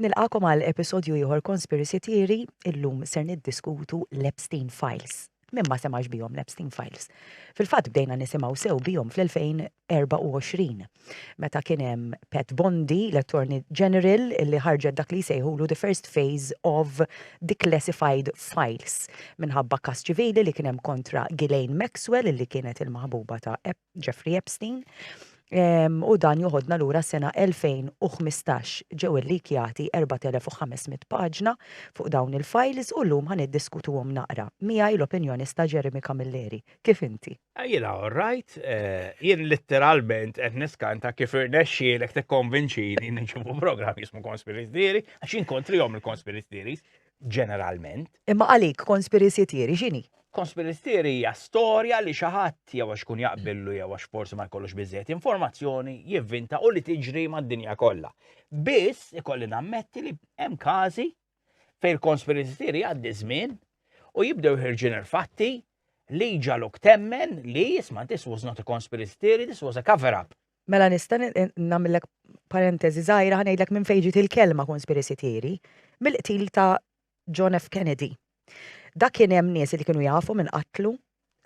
Nilqakom għal episodju ieħor Conspiracy Theory, illum ser niddiskutu l-Epstein Files. Min ma semax bihom l-Epstein Files. Fil-fatt bdejna nisimgħu sew bihom fl-2024 meta kien hemm Pat Bondi, l-Attorney General, li ħarġet dak li jsejħulu the first phase of declassified files minħabba kas ċivili li kien hemm kontra Ghislaine Maxwell li kienet il-maħbuba ta' Jeffrey Epstein, u dan joħodna lura s-sena 2015. Ġew illikjati 4,500 paġna fuq dawn il-fajls u llum ħa niddiskutuhom naqra. Miegħi l-opinjonista Jeremy Camilleri. Kif inti? Jiena all right. Jien litteralment qed niskanta kif irnexxielek tikkonvinċini niġi fuq programm jismu Conspiracy Theory, għax jien kontrihom il-Conspiracy Theories. ġeneralment. Imma għalik conspiracy theory x'inhi? Conspiracy theory hija storja li xi ħadd jew għax kun jaqbillu jew għax forsi ma jkollux biżejjed informazzjoni jivvinta u li tiġri mad-dinja kollha. Biss ikolli nammetti li hemm każi fejn il-conspiracy theory għaddi żmien u jibdew ħirġin il-fatti li ġaluk temmen li jisma' this was not a conspiracy theory, this was a cover-up. Mela nista' nagħmillek parenteżi żgħira ħa ngħidlek minn fejn ġiet il-kelma conspiracy theory, mill-qtil ta' John F. Kennedy. Dak kien hemm nies li kienu jafu min qatlu,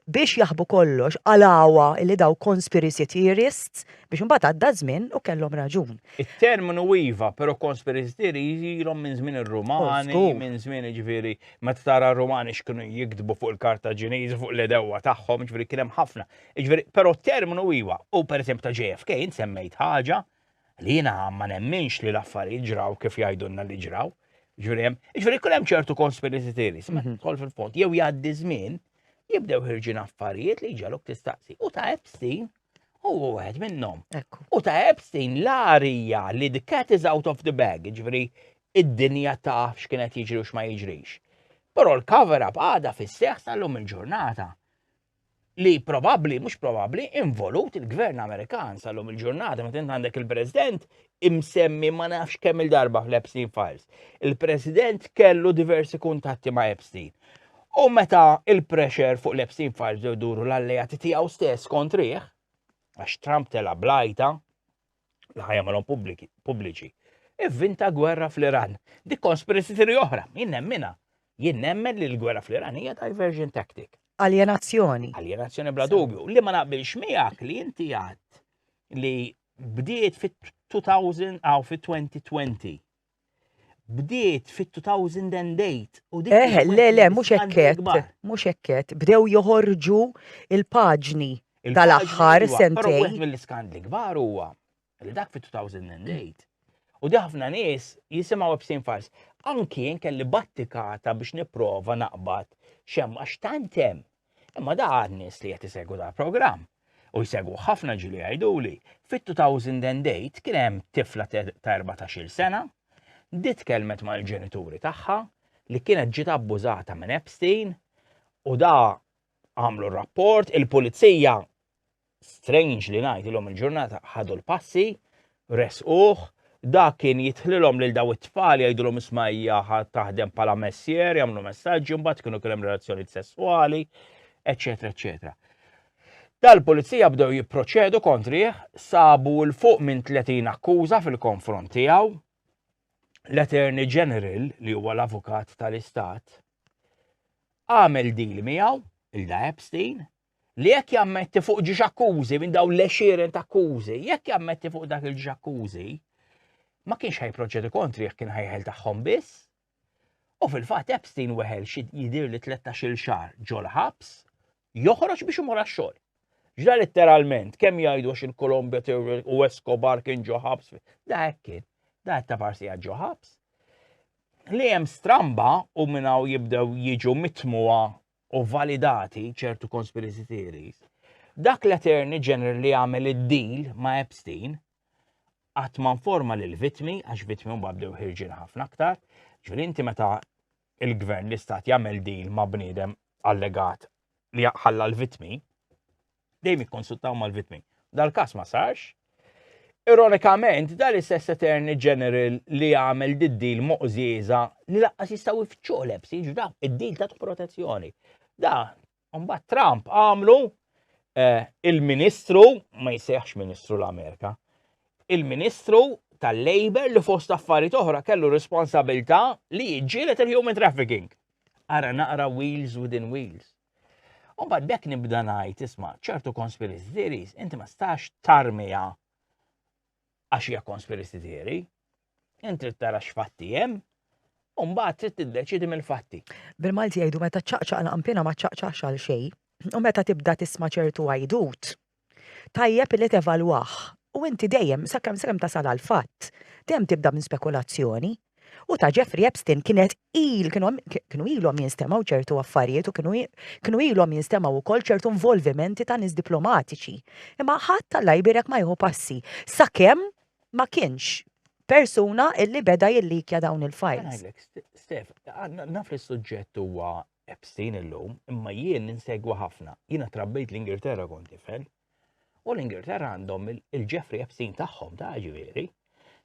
biex jaħbu kollox qalawha li dawk conspiracy theorists biex imbagħad għadda ż-żmien u kellhom raġun. It-terminu iva, però conspiracy theory ilhom minn żmien ir-Rumani, minn żmien jiġifieri meta tara r-Rumani x'kienu jiktbu fuq il-Kartaġiniżi, fuq l-għedewwa tagħhom, jiġifieri kien hemm ħafna. Jiġifieri, però terminu iva, u pereżempju ta' JFK int semmejt ħaġa li jiena ma nemminx li l-affarijiet ġraw kif jgħidulna li ġraw. Jiġifieri hemm, jiġifieri jkun hemm ċertu conspiracy theories, ma tidħol fil-fond, jew jgħaddi żmien, jibdew ħirġin affarijiet li jġalok tistaqsi. U ta' Epstein huwa wieħed minnhom. U ta' Epstein l-arija li the cat is out of the bag, jiġifieri id-dinja taf x'kienet jiġri u x'ma jiġrix. Però l-cover up għada fis-seħħ sal-lum il-ġurnata. li probabbli, mhux probabbli, involut il-gvern Amerikan sal-lum il-ġurnata, meta għandek il-President imsemmi ma nafx kemm il-darba fl-Epstein Files. Il-President kellu diversi kuntatti ma' Epstein. U meta il-pressure fuq l-Epstein Files duru l-alleati tiegħu stess kontriħ, għax Trump tela blajta, l-ħajja malhom pubbliċi. Ivvinta gwerra fl-Iran. Dik konspiracy theory oħra, jien nemmina. Jien nemmen li l-gwerra fl-Iran hija diversion tactic. Aljenazzjoni. Aljenazzjoni bla dubju. Li ma naqbilx miegħek li inti għad li bdiet fit-2000 għaw fit-2020 bdiet fit-2008 u dik. Eh, le, le, mhux hekket, mhux hekket. Bdew joħorġu il-paġni tal-aħħar sentej. Wieħed mill-iskandli kbar huwa li dak fit-2008 u di ħafna nies jisimgħu ebsin fals. Anki kelli battikata biex nipprova naqbad xem għax tantem Imma da għan-nies li qed isegwu dal-programm, u jsegwuh ħafna ġieli jgħiduli, fit-2008 kien hemm tifla ta' erbatax-il sena, di tkellmet mal-ġenituri tagħha li kienet ġiet abbużata minn Epstein u da għamlu r-rapport, il-pulizija strange li ngħid ilhom il-ġurnata ħadu l-passi, resquh, dak kien jitħlilhom lil daw it-tfal jgħidulhom isma' hija taħdem bħala messier, jagħmlu messaġġi, mbagħad kienu kien hemm relazzjonijiet sesswali, eċetera, eċetera. Dal-pulizija bdew jipproċedu kontrih, sabu l fuq minn 30 akkuża fil-konfront tiegħu. L-Attorney General, li huwa l-avukat tal-Istat, għamel deal miegħu il-da Epstein li jekk jammetti fuq ġiex akkużi minn dawn l-exieren ta' akkużi, jekk jammetti fuq dak il-ġiex akkużi, ma kienx ħajproċedi kontri jekk kien ħajħel tagħhom biss. U fil-fatt Epstein weħel xi jidir li 13-il xahar ġol ħabs, joħroġ biex imur għax-xogħol. Ġda letteralment, kemm jgħidu għax il-Kolombja u Escobar kien ġo ħabs, da hekk kien, da ta' parsi ġo ħabs. Li hemm stramba u minnaw jibdew jiġu mitmuha u validati ċertu conspiracy theories, dak l-Attorney General li għamel id-deal ma' Epstein qatt ma informa lil vitmi għax vitmi huma bdew ħirġin ħafna aktar, ġifieri inti meta il-gvern l-istat jagħmel deal ma' bniedem allegat li ħalla l-vitmi, dejjem ikkonsultaw mal-vittmi. Dal-każ ma sarx. Ironikament, dan l-istess Attorney General li għamel did-dil moqżieża li laqqas jistgħu jfittxu lebs, jiġu daw id-dil ta' protezzjoni. Da, mbagħad Trump għamlu eh, il-Ministru, ma jsejħx Ministru l-Amerika, il-Ministru tal-Labor li fost affarijiet oħra kellu responsabilità li jġielet il-human trafficking. Ara naqra wheels within wheels. U bad bekk nibda ngħid isma' ċertu conspiracy theories inti ma stax tarmija għax hija conspiracy theory. Inti tara x'fatti hemm u mbagħad trid tiddeċidi mill-fatti. Bil-Malti jgħidu meta ċaqċaq l-qampina ma ċaqċaqx għal xejn. U meta tibda tisma' ċertu għajdut, Tajjeb li tevalwah. U inti dejjem, sakemm sakemm tasal għal fatt, dejjem tibda minn spekulazzjoni. U ta' Jeffrey Epstein kienet il kienu ilhom jinstemgħu ċertu affarijiet u kienu ilhom jinstemgħu wkoll ċertu involvimenti ta' nies diplomatiċi. Imma ħadd Alla jbierek ma jieħu passi sakemm ma kienx persuna illi beda jillikja dawn il-files. Ngħidlek, Stef, naf li s-suġġett huwa Epstein illum, imma jien insegwa ħafna. Jiena trabbejt l-Ingilterra kont tifel. U l-Ingilterra għandhom il-Jeffrey Epstein tagħhom ta' ġifieri.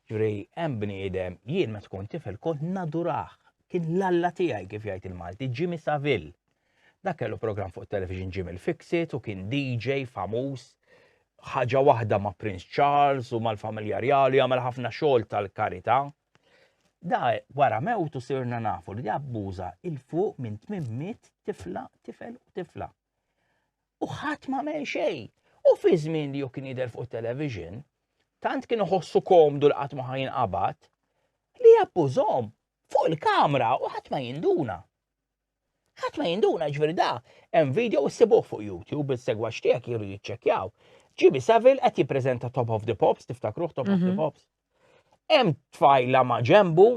Ġifieri hemm bniedem jien meta kont tifel kont naduraħ. Kien l-alla tiegħi kif jgħid il-Malti, Jimmy Saville. Dak kellu programm fuq television Jimmy l-Fixit u kien DJ famuż ħaġa waħda ma' Prince Charles u mal-familja Rjali għamel ħafna xogħol tal-karità. Da wara mewtu sirna nafu li abbuża il-fuq minn 800 tifla, tifel u tifla. U ħadd ma mel xejn. U fi żmien li kien jidher fuq television, tant kien iħossu komdu li qatt ma ħajin qabad, li abbużhom fuq il-kamra u ħadd ma jinduna. Ħadd ma jinduna ġifieri da hemm video issibuh fuq YouTube is-segwaċ tiegħek jridu jiċċekkjaw. Jimmy Savile qed jippreżenta Top of the Pops, tiftakruh Top of the mhm. Pops. Hemm tfajla ma' ġembu,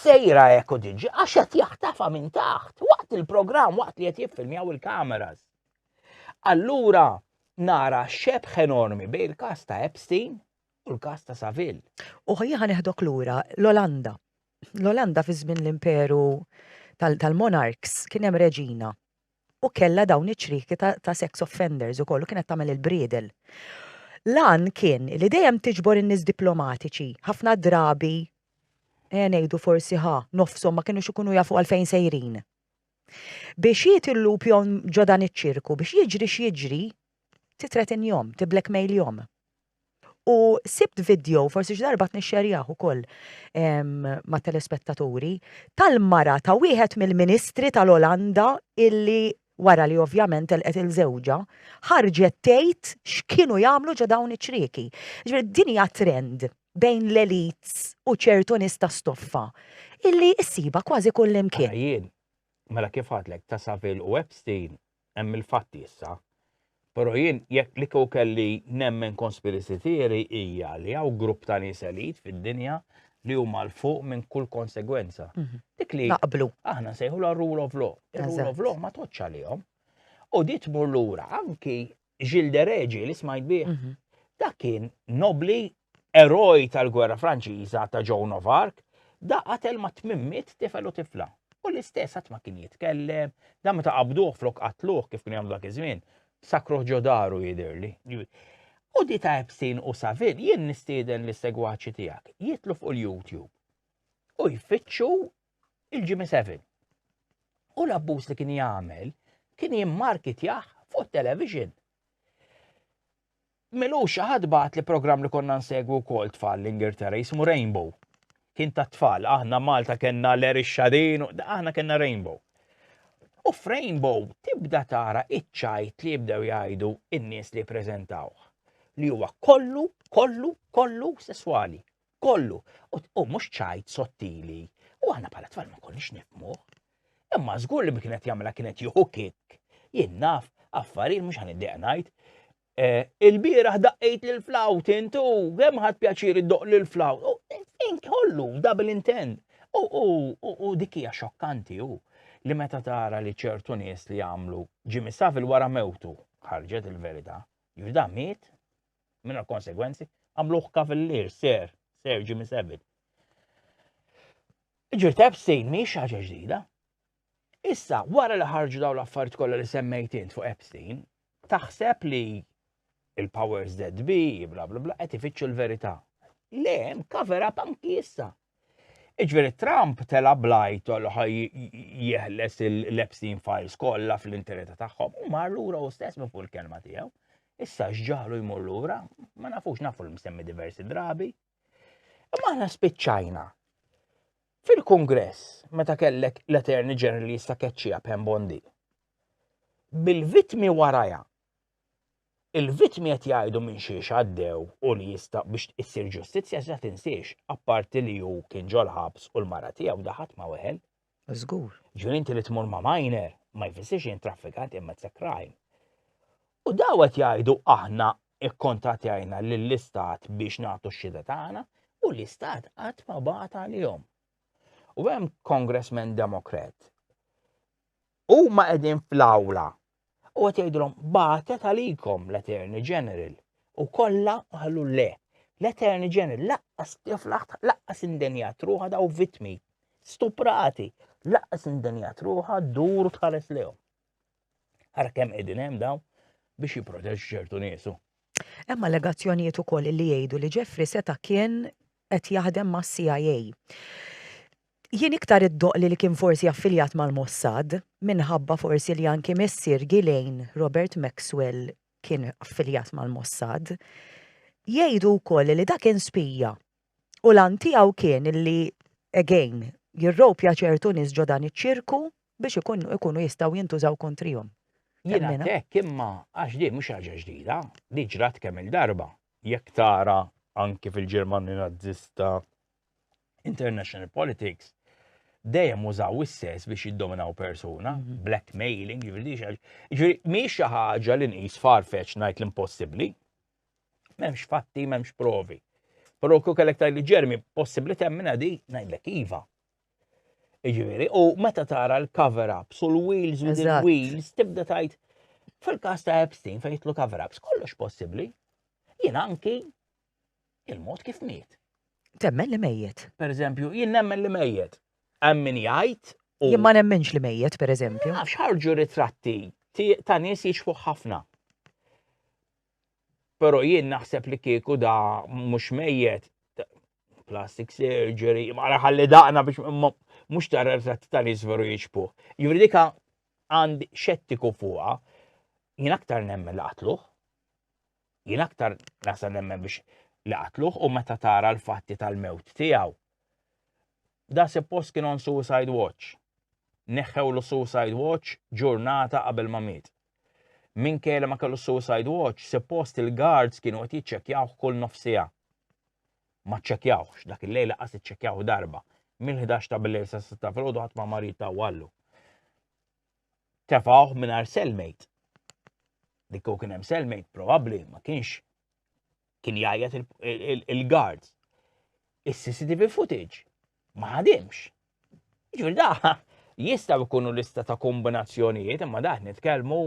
sejra hekk u diġi, għax qed jaħtafa minn taħt, waqt il-programm, waqt li qed jiffilmjaw il-kameras. Allura nara xebħ enormi bejn il-kas ta' Epstein u l-kas ta' Saville. U ħajja ħaneħdok lura l-Olanda. L-Olanda fi żmien l-imperu tal-monarchs kien hemm reġina u kellha dawn iċ-ċrieki ta' sex offenders ukoll u kienet tagħmel il-bridel. L-għan kien li dejjem tiġbor in-nies diplomatiċi, ħafna drabi ejja ngħidu forsi ħa nofshom ma kinux ikunu jafu għalfejn sejrin. Biex jiet il-lup jon ġo dan iċ-ċirku, biex jiġri x'jiġri, titretinjhom, tiblackmailhom. U sibt video, forsi xi darba tnixxerjah ukoll ma' telespettaturi, tal-mara ta' wieħed mill-ministri tal-Olanda illi wara li ovvjament telqet il żewġha, ħarġet tgħid x'kienu jagħmlu ġo dawn iċ-ċrieki. Ġifieri din hija trend bejn l-elites u ċertu nies ta' stoffa illi ssibha kważi kullimkien. Ara jien, mela kif għadlek ta' Saville u Epstein hemm il-fatti issa. Però jien jekk li kieku kelli nemmen conspiracy theory hija li hawn grupp ta' nies elit fid-dinja li huma l fuq minn kull konsegwenza. Mhm. Dik li naqblu. Aħna sejħu la rule of law. Il-rule of law ma toċċa lihom. U di tmur lura anki Gilles de Regi li smajt bih. Mhm. Dak kien nobli eroj tal-gwerra Franċiża ta' Joan of Arc, da qatel ma' tmimmit tifel u tifla. U l-istess għat ma kien jitkellem, da meta qabduh flok qatluh kif kien jagħmlu dak iż-żmien, sakruh ġodaru jidirli. U di ta' Epstein u Savin jien nistieden l-segwaċi tiegħek jitlu fuq il-YouTube u jfittxu il-G7. U l-abbuż li kien jagħmel kien jimmarkitjah fuq television. Melu xaħad bat li program li konna nsegwu kol tfal l-Ingilterra jismu Rainbow. Kien ta' tfal, aħna Malta kena l-eri xadin, aħna kena Rainbow. U f'Rainbow tibda tara iċċajt li jibdew jgħidu in-nies li prezentawh li huwa kollu, kollu, kollu sesswali. kollu. U mhux ċajt sottili. U aħna bħala tfal ma konniex nifmuh. Imma żgur li kienet jagħmilha kienet jieħu kik. Jien naf affarijiet mhux ħaniddeq ngħid. E, il-bieraħ daqqejt lil flawt intu, kemm ħadd pjaċir iddoq lil flawt. Kollu, double intent. U dik hija xokkanti u li meta tara li ċertu nies li jagħmlu ġimmi safil wara mewtu ħarġet il-verità. Juda miet mingħajr konsegwenzi, għamluh kavillier, ser, ser Jimmy Savile. Ġir Epstein mhix ħaġa ġdida. Issa, wara li ħarġu daw l-affarijiet kollha li semmejt int fuq Epstein, taħseb li il-powers that be, bla bla bla, qed ifittxu l-verità. Le, cover up anki issa. Iġveri Trump tela blajt u ħaj jeħles il-Epstein files kollha fl-intereta tagħhom u mar lura u stess minn fuq il-kelma tiegħu. Issa x'ġaħlu jmur lura, ma nafux nafu l-msemmi diversi drabi. Imma aħna spiċċajna. Fil-Kongress, meta kellek l-Attorney General jissa keċċija Bondi, bil-vitmi waraja Il-vittmi qed jgħidu minn xiex għaddew u li jista' biex issir ġustizzja iżda tinsiex, apparti li hu kien ġol-ħabs u l-mara tiegħu da ħadd ma weħel. Żgur. Ġifieri inti li tmur ma' minor ma jfissirx jien traffikant imma it's a crime. U daw qed jgħidu aħna ikkontatjajna lill-istat biex nagħtu x-xhieda tagħna u l-istat qatt ma bagħat għalihom. U hemm congressman demokrat. U ma qegħdin fl-awla U qed jgħidulhom bagħtet għalikom l-Attorney General u kollha qalu le. L-Attorney General laqqas tiflaħt laqqas indenjat ruħa daw vitmi stuprati laqqas indenjat ruħa dur tħares lehom. Ara kemm qegħdin hemm daw biex jipproteġu ċertu niesu. Hemm allegazzjonijiet ukoll li jgħidu li Jeffrey seta' kien qed jaħdem mas-CIA. Jien iktar iddoqli li kien forsi affiljat mal-Mossad, minħabba forsi li anki missier Ghislaine, Robert Maxwell, kien affiljat mal-Mossad. Jgħidu wkoll li da kien spija u l-għan tiegħu kien li, again, jirropja ċertu nies ġo dan iċ-ċirku biex ikunu jistgħu jintużaw kontrihom. Jien għad hekk imma għax din mhux ħaġa ġdida, li ġrat kemm il-darba. Jekk tara anki fil-Ġermanja Nazzista international politics dejjem użaw is-sess biex jiddominaw persuna, mhm. blackmailing, jivridi xaġ. Ġviri, miex xi ħaġa li nqis farfetch ngħid l-impossibbli. M'hemmx fatti, m'hemmx provi. Però kuk kellek li ġermi possibbli temmina di ngħidlek iva. Ġviri, u meta tara l-cover ups u l-wheels u l-wheels tibda tajt fil-każ ta' Epstein fejn jitlu cover ups kollox possibbli. Jien anki Il-mod kif miet. Temmen li mejjet. Per eżempju, jien nemmen li mejjet. Hemm min jgħid Jien ma nemmenx li mejjet, per eżempju. Nafx ħarġu ritratti ta' nies jixfu ħafna. Pero jien naħseb li kieku da mhux mejjet plastic surgery, ma ħalli daqna biex mhux ta' ritratti ta' nies veru jixfu. Jivri dika għand xettiku fuqha, jien aktar nemmen laqtluħ. Jien aktar nasa nemmen biex li qatluh u meta tara l-fatti tal-mewt tiegħu. Da suppost kien on suicide watch. Neħħewlu suicide watch ġurnata qabel ma miet. Min kele ma kellu suicide watch, suppost il-guards kienu qed jiċċekkjawh kull nofsija. Ma ċċekkjawx, dak il-lejl laqas iċċekkjawh darba. Mill-11 ta' bil-lejl sa' 6 fil-ħodu ħadd ma marit ta' wallu. tefgħuh mingħajr cellmate. Li kieku kien hemm cellmate probabbli ma kienx kien jgħajjat il-guards. Is-CCTV footage ma ħadimx. Ġifieri da jista' jkunu lista ta' kombinazzjonijiet imma daħ nitkellmu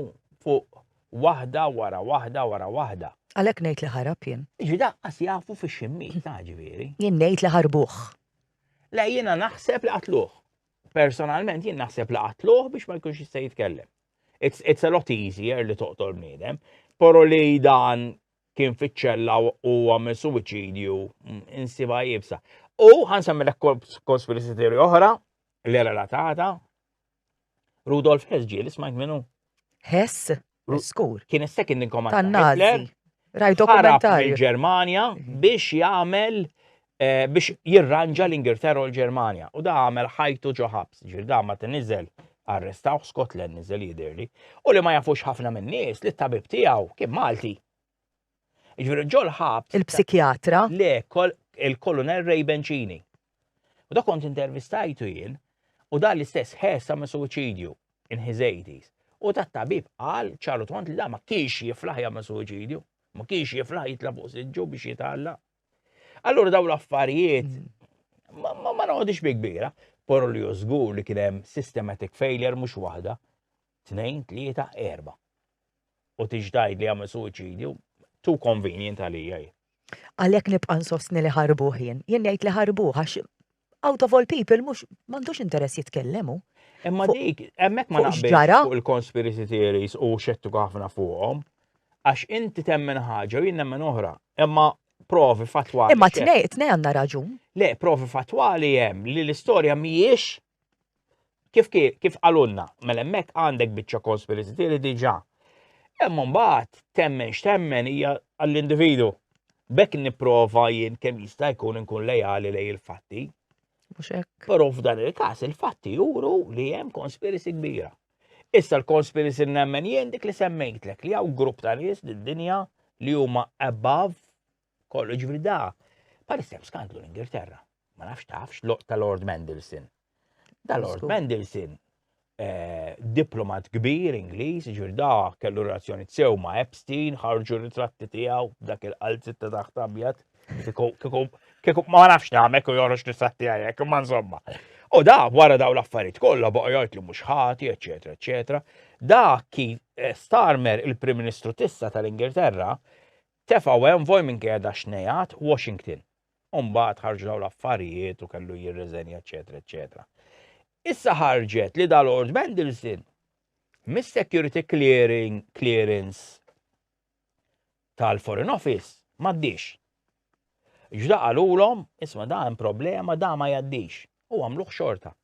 fuq waħda wara waħda wara waħda. Għalhekk ngħid li ħarab jien. Ġi daqqas jafu fix-ximmiet ta' ġifieri. Jien ngħid li ħarbuh. Le jiena naħseb li qatluh. Personalment jien naħseb li qatluh biex ma jkunx jista' jitkellem. It's, it's a lot easier li toqtol bniedem, pero li dan kien fiċċella u għamil suwiċidju mm, insiba jibsa. U ħansammilek konspirisi teori oħra li relatata Rudolf Hess ġieli smajt minnu. Hess? Skur. Kien is-second in command tan-Nazi. Rajt dokumentarju. Il-Ġermanja mhm. biex jagħmel eh, biex jirranġa l-Ingilterra u l-Ġermanja. U da għamel ħajtu ġo ħabs, ġir da ma t-nizel arrestaw Scotland nizel jidirli. U li ma jafux ħafna minn nies li t-tabib tiegħu kien Malti. Jiġifieri ġo l-ħabs. Il-psikjatra. Le, il-Kolonel Ray Bencini. U da kont intervistajtu jien u dan l-istess ħes sa' suwiċidju in his 80s. U ta' tabib qal ċaru tont li da ma kienx jiflaħ jagħmel suwiċidju, ma kienx jiflaħ jitla' fuq siġġu biex jitgħalla. Allura daw l-affarijiet mm. ma noqgħodix bi kbira, porru li żgur li kien hemm systematic failure mhux waħda. tnejn, tlieta, erba'. U tix tgħid li għamel suwiċidju, too convenient għalija jien. Għalhekk nibqa' nsostni li ħarbuh jien. Jien ngħid li ħarbuh għax out of all people mhux m'għandux interess jitkellem hu. Imma dik, hemmhekk ma naqbilx fuq il-conspiracy theories u xettu ħafna fuqhom. Għax inti temmen ħaġa u jien nemmen oħra. Imma provi fatwali. Imma tnej, tnej għandna raġun. Le, provi fatwali hemm li l-istorja mhijiex Kif kif qalulna, mela hemmhekk għandek biċċa conspiracy theory diġà. Hemm mbagħad temmen x'temmen hija għall-individu. Bekk nipprova jien kemm jista' jkun inkun lejali lej il-fatti. Mhux hekk. Però f'dan il-każ il-fatti juru li hemm conspiracy kbira. Issa l-conspiracy nemmen jien dik li semmejtlek li hawn grupp ta' nies din dinja li huma above Kollu ġifri da, parissa hemm skandlu l-Ingilterra. Ma nafx tafx ta' Lord Mendelssohn. Da Lord Mendelssohn eh, diplomat kbir Ingliż, ġifri da kellu relazzjoni sew ma' Epstein, ħarġu ritratti tiegħu dak il-qalzit ta' taħt abjad. Kieku ma nafx nagħmek u joħroġ ritratti għajek, ma insomma. U da wara daw l-affarijiet kollha baqa' jgħid li mhux ħati, eċetera, eċetera. Da kif eh, Starmer il-Prim Ministru tissa tal-Ingilterra Tefgħu envoy minn qiegħda xnejat, Washington. U mbagħad ħarġu dawn l-affarijiet u kellu jirriżenja eċetera eċetera. Issa ħarġet li da Lord Mandelson mis-security clearing clearance tal-Foreign Office m'għaddix. Ġda qalulhom, isma' da hemm problema da ma jgħaddix u għamluh xorta.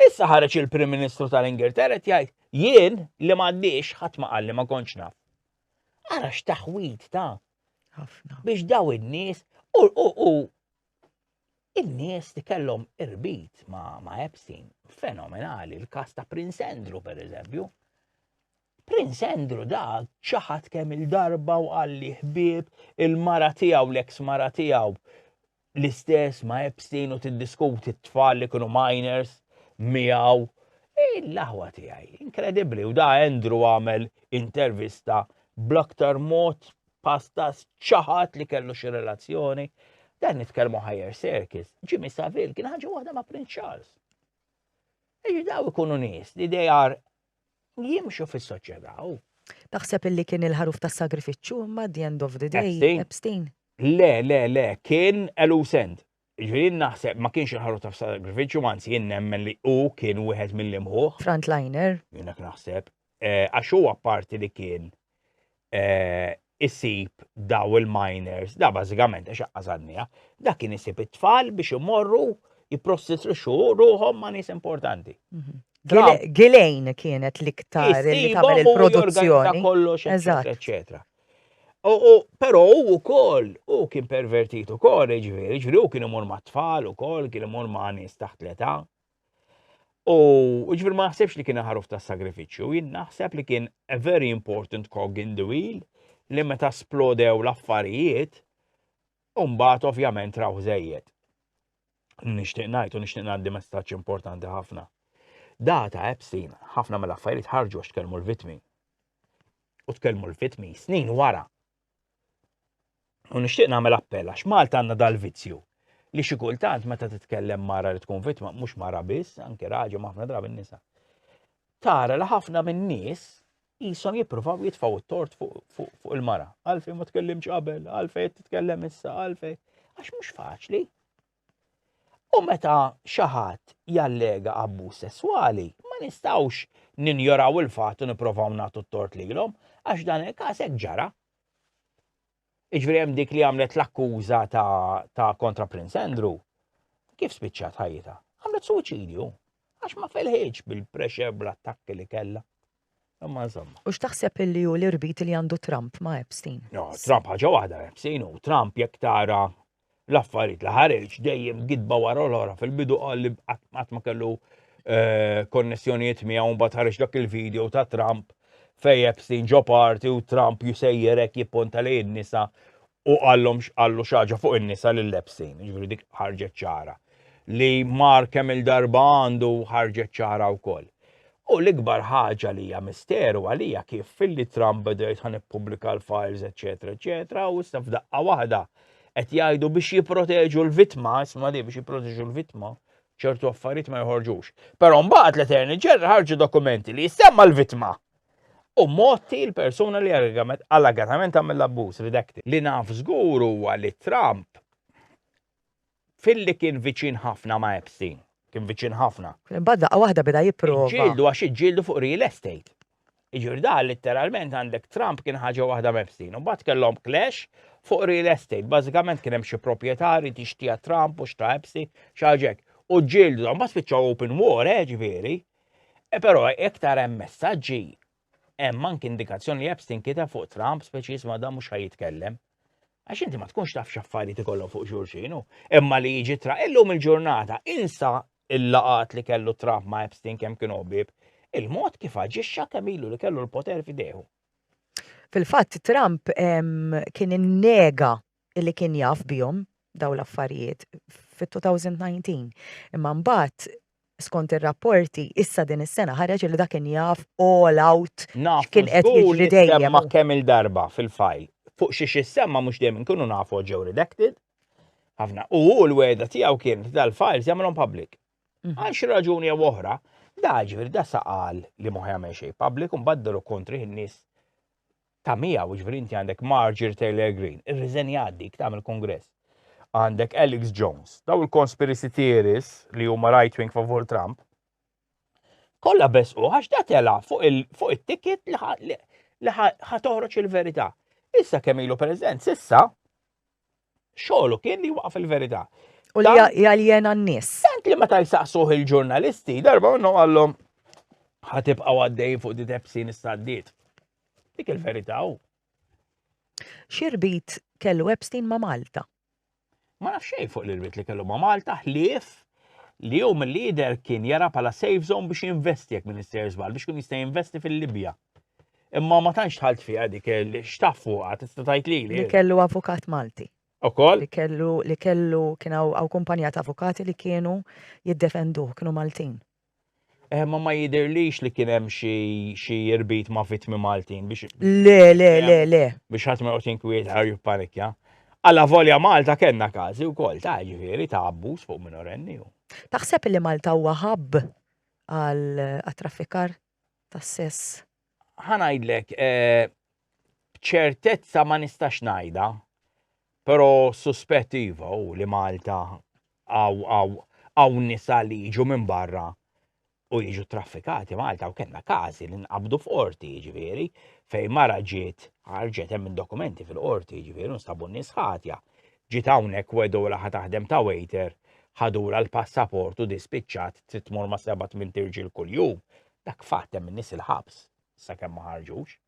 Issa ħareġ il-Prim Ministru tal-Ingilterra jgħid jien li m'għaddix ħadd ma qalli ma kontx naf. Ara x'taħwid ta' ħafna biex daw in-nies u u in-nies li kellhom irbit ma' ma' Epstein fenomenali, il-kas ta' Prince Andrew per eżempju. Prince Andrew da ċaħat kemm il-darba u għalli ħbib il-mara tiegħu l-eks mara tiegħu l-istess ma' Epstein u tiddiskuti t-tfal li kienu minors miegħu. Il-laħwa tiegħi, inkredibbli, u da Andrew għamel intervista bl-aktar mod pastas ċaħat li kellu xi relazzjoni. Dan nitkellmu higher circus. Jimmy Savile kien ħaġa waħda ma' Prince Charles. Eġi daw ikunu nies li they are jimxu fis-soċjetà u. Taħseb illi kien il-ħaruf tas sagrifiċċju imma the end of the day. Epstein. Le, le, le, kien elusent. Ġifieri naħseb ma kienx il-ħaruf tas sagrifiċċju, anzi jien nemmen li hu kien wieħed mill-imħuħ. Frontliner. Jiena naħseb. Eh, għax huwa parti li kien eh, isib daw il-miners, da bażikament għax għażadnija, da kien isib it-tfal biex imorru jipprostituxxu ruħhom ma' nies importanti. Mhm. Gilejn kienet l-iktar li tagħmel il-produzzjoni. kollox, eċetera. U però u kol, u kien pervertit u kol, ġveri, ġveri, u kien imur ma' tfal u kol, kien imur ma' nis taħt l-età. U ġifir ma naħsebx li kien ħaruf ta' sagrifiċċju, jien naħseb li kien a very important cog in the wheel li meta splodew l-affarijiet, umbat ovvjament raw zejjed. Nishtiq najt u nishtiq naddi messaċ importanti ħafna. Data Epstein, ħafna mill-affarijiet ħarġu għax tkellmu l-vitmi. U tkellmu l-vitmi snin wara U nixtieq nagħmel appell għax Malta għandna dal-vizzju li xi kultant meta titkellem mara li tkun vittma mhux mara biss, anke raġel ħafna drabi nisa. Tara li ħafna min-nies jisom jippruvaw jitfaw it-tort fuq il-mara. Għalfej ma tkellimx qabel, għalfej titkellem issa, għalfej. Għax mhux faċli. U meta xi ħadd jallega abbuż sesswali, ma nistgħux ninjoraw il-fatt u nipprovaw nagħtu t-tort lilhom, għax dan il-każ hekk ġara. Iġveri hemm dik li għamlet l-akkuża ta' kontra Prince Andrew, kif spiċċat ħajjita? Għamlet suċidju, għax ma felħieġ bil-pressure bl-attakki li kella. Imma insomma. U x'taħseb illi hu l-irbit li għandu Trump ma' Epstein? No, Trump ħaġa waħda Epstein u Trump jekk tara l-affarijiet li ħareġ dejjem gidba wara l-ora fil-bidu qal li qatt ma kellu eh, konnessjonijiet miegħu mbagħad ħareġ dak il-video ta' Trump fej Epstein ġo parti u Trump jusejjerek jipponta li n-nisa u għallom għallu xaġa fuq in-nisa lil Epstein, ġifieri dik ħarġet ċara. Li mar kemm il-darba għandu ħarġet ċara wkoll. U l-ikbar ħaġa li hija misteru għalija kif filli Trump beda jitħan ippubblika l-files, eċetera, eċetera, u issa f'daqqa waħda qed jgħidu biex jipproteġu l-vittma, isma' li biex jipproteġu l-vittma, ċertu affarijiet ma joħorġux. Però mbagħad l-Attorney General ħarġu dokumenti li jissemma l-vittma. U motti l-persuna li allegatament għamel l-abbuż, redacted. Li naf żgur huwa li Trump Philly kien viċin ħafna ma' Epstein. Kien viċin ħafna. Imbagħad daqqa waħda beda jipprova. Ġġieldu għax iġġieldu fuq real estate. Jiġifieri da litteralment għandek Trump kien ħaġa waħda m'Epstein. U mbagħad kellhom clash fuq real estate. Bażikament kien hemm xi proprjetari tixtija Trump u xta' Epstein xi ħaġa hekk. U ġġieldu, mbagħad spiċċaw open war, eh, ġifieri. E però iktar hemm messaġġi Hemm anki indikazzjoni li Epstein kiteb fuq Trump speċi jisma' dan mhux ħajjitkellem. Għax inti ma tkunx taf x'affarijiet ikollhom fuq xulxin imma li jiġi tra illum il-ġurnata insa il-laqat li kellu Trump ma' Epstein kemm kienu ħbieb, il-mod kif aġixxa kemm ilu li kellu l-poter f'idejhu. Fil-fatt Trump kien innega li kien jaf bihom dawn l-affarijiet fit-2019. Imma mbagħad skont ir-rapporti issa din is-sena ħareġ li dak kien jaf all out x'kien qed jiġri dejjem. Nafu semma kemm il-darba fil-fajl. Fuq xiex issemma mhux dejjem inkunu nafu għax ġew redacted. Ħafna. U hu l-wegħda tiegħu kien dal-files jagħmilhom public. Għal xi raġuni jew oħra, da ġifieri da saqal li ma jagħmel xejn public u mbagħad daru kontri in-nies ta' miegħu, jiġifieri inti għandek Marjorie Taylor Greene, irriżenjat dik tagħmel kongress. Għandek Alex Jones, daw il-conspiracy theories li huma right wing favur Trump, kollha besqu għax da tela fuq it-ticket li ħatoħroġ il-verità. Issa kemm ilu president, sissa Xogħlu kien li waqaf il-verità. U li jaljena n-nies. Tant li meta jsaqsuh il-ġurnalisti, darba minnu għallhom ħatibqa' għaddej fuq di tepsin istaddiet. Dik il-verità u. Xirbit kellu Epstein ma' Malta. Ma nafx xejn fuq l-irbit li kellu ma' Malta ħlief li hu mill-lider kien jara pala safe zone biex jinvesti jekk minister żball biex kun jista' jinvesti fil-Libja. Imma ma tantx tħalt fiha dik x'taf fuqha tista' tgħid lili. Li kellu avukat Malti. Ukoll? Li kellu li kellu kien hawn kumpanija ta' avukati li kienu jiddefenduh, kienu Maltin. Eh, ma ma jidirlix li kien hemm xi irbit ma' vittmi Maltin biex. Le, le, le, le. Biex ħadd ma joqgħod jinkwiet ħar jippanikja. Alla volja Malta kellna każi wkoll ta' ġifieri ta' abbuż fuq minorenni. Taħseb li Malta huwa ħabb għal traffikar tas-sess. Ħa ngħidlek, b'ċertezza ma nistax ngħidha, però suspett iva hu li Malta hawn nisa li jiġu minn barra u jiġu traffikati Malta u kellna każi li nqabdu f'qorti jiġifieri fejn mara ġiet ħarġet hemm dokumenti fil-qorti jiġifieri nstabu nies ħatja Ġiet hawnhekk wedulha ħa taħdem ta' waiter, ħadulha l-passaport u di spiċċat trid tmur ma' seba' tmint irġiel kuljum, dak fatt hemm in-nies il-ħabs sakemm ma ħarġux.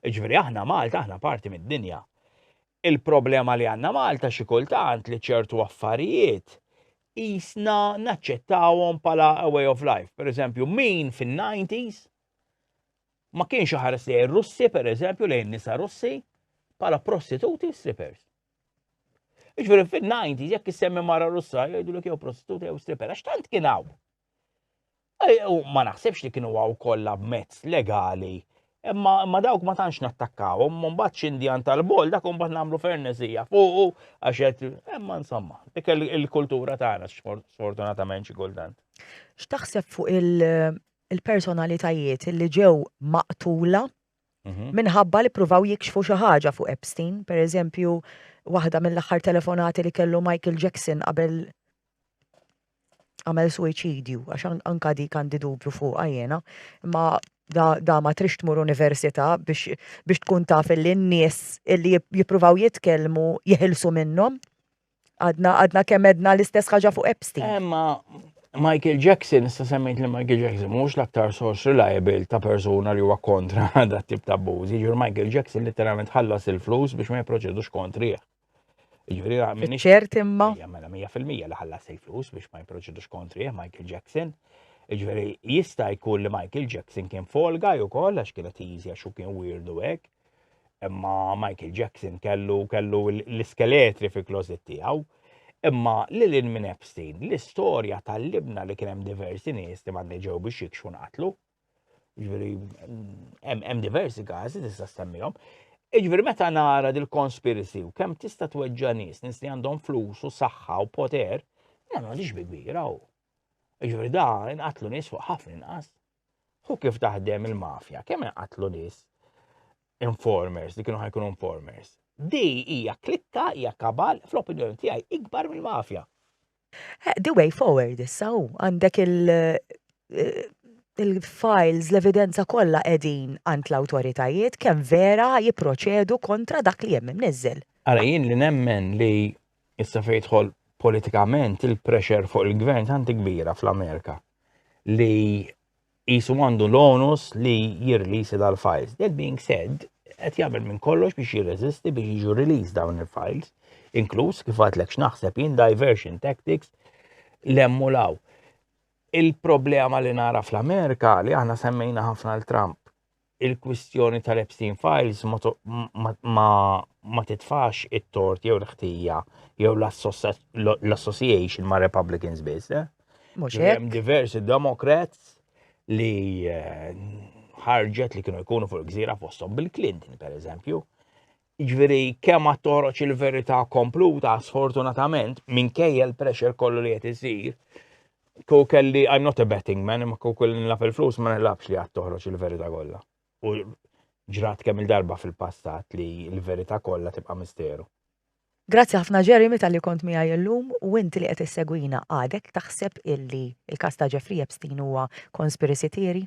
Jiġifieri aħna Malta aħna parti mid-dinja. Il-problema li għandna Malta xi kultant li ċertu affarijiet qisna naċċettawhom bħala a way of life. Pereżempju min fin-90s ma kienx iħares lejn ir-Russi, per eżempju, lejn nisa Russi, bħala prostituti u strippers. Iġveri fin-90 jekk issemmi mara Russa jgħidu li jew prostituti jew stripper, għax tant kien hawn. U ma naħsibx li kienu għaw kollha b'mezz legali. Imma dawk ma tantx nattakkaw, imma mbagħad x'indjan tal-bol dak mbagħad nagħmlu fernezija fuq għax qed imma insomma, dik il-kultura tagħna sfortunatament xi kultant. X'taħseb fuq il- il-personalitajiet li ġew maqtula mhm. minħabba li pruvaw jikxfu xi ħaġa fuq Epstein, per eżempju, waħda mill-aħħar telefonati li kellu Michael Jackson qabel għamel suicidju, għax anka di kandi dubju fuq għajena, ma da, da ma trix tmur università biex, biex tkun taf li n-nies li jippruvaw jitkellmu jeħilsu minnhom. Għadna, għadna kemm edna l-istess ħaġa fuq Epstein. Emma, eh, Michael Jackson, issa semmejt li Michael Jackson mhux l-aktar source reliable ta' persuna li huwa kontra da tip ta' abbużi, ġur Michael Jackson literalment ħallas il-flus biex ma jipproċedux kontrih. Ġuri għamini. ċert imma. Jamela 100% li ħallas il-flus biex ma jipproċedux kontrih Michael Jackson. Ġveri, jista' jkun li Michael Jackson kien folga ju koll għax kienet easy għax kien weirdu hekk. Imma Michael Jackson kellu kellu l-iskeletri fi klozit tiegħu. Imma li lil minn Epstein, l-istorja tal-libna li kien hemm diversi nies li m'għandni ġew biex jikxu nqatlu. Ġifieri hemm diversi każi tista' stemmihom. Ġifieri meta nara dil-conspiracy u kemm tista' tweġġa' nies, nies li għandhom flus u saħħa u poter, nagħmlu dix bi kbira u. Ġifieri da inqatlu nies fuq ħafna inqas. Hu kif taħdem il-mafja, kemm inqatlu nies informers li kienu ħajkunu informers. Di hija klikka hija kabal fl-opinjoni tiegħi ikbar mill-mafja. Eh, the way forward issa hu għandek il- eh, il-files, l-evidenza kollha qegħdin għand l-awtoritajiet kemm vera jipproċedu kontra dak li hemm imniżżel. Ara jien li nemmen li Issa fejn jidħol politikament il-pressure fuq il-gvern tant kbira fl-Amerika li jisu għandu l-onus li jirlisi dal-files. That being said, qed jagħmel minn kollox biex jirreżisti biex jiġu release dawn il-files, inkluż kif għadlek x'naħseb jien diversion tactics l-emmulaw. Il-problema li nara fl-Amerika li aħna semmejna ħafna l-Trump il-kwistjoni tal-Epstein Files ma titfax it-tort jew l-ħtija jew l-association ma' Republicans biss. Eh? Mhux hemm diversi Democrats li eh, ħarġet li kienu jkunu fuq il-gżira fosthom Bill Clinton, per eżempju, Jiġifieri kemm ma toroċ il-verità kompluta, sfortunatament, minkejja l-pressure kollu li qed isir, kieku kelli I'm not a betting man, imma kieku kelli nilaf il-flus ma nilafx li għad toħroġ il-verità kollha. U ġrat kemm il-darba fil-passat li l-verità kollha tibqa' misteru. Grazzi ħafna Jeremy tal-li kont miegħi llum u int li qed issegwina għadek taħseb illi il-każ ta' Jeffrey Epstein huwa conspiracy theory?